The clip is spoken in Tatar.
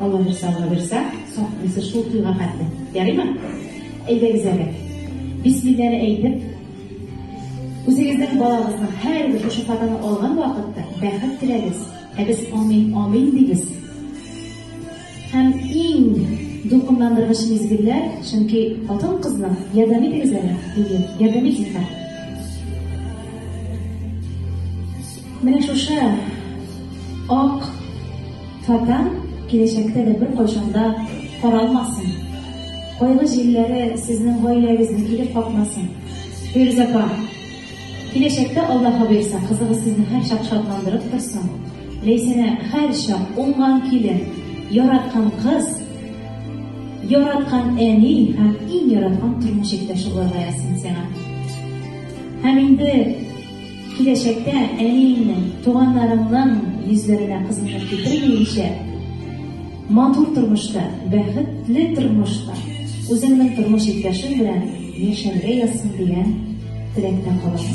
Алла бер сагы бирсә, саклыйсы шул туйга хәтле. Ярыймы? Әйдәгез әле. Бисмилләне әйтеп, үзегезнең балагызның һәрбер шушы фатаны алган вакытта бәхет теләгез. Ә без амин, амин дибез. Һәм иң дулкынландыргыч мизгелләр, чөнки хатын-кызның ярдәм итегез әле, диде. Ярдәм итегез. Менә шушы ак фата киләчәктә дә бер кайчанда каралмасын. Кайлы җилләре сезнең гаиләгезне килеп капмасын. Фирүз апа, киләчәктә Аллаһ бирсә, кызыгыз сезне һәр чак шатландырып торсын. Ләйсәнә һәр чак уңган килен, яраткан кыз, яраткан әни һәм иң яраткан тормыш иптәше булырга язсын сиңа. Һәм инде Киләчәктә әниеңнең, туганнарыңның йөзләренә кызгынып китермиенчә, матур тормышта, бәхетле тормышта, үзеңнең тормыш иптәшең белән яшәргә язсын дигән теләктә калабыз.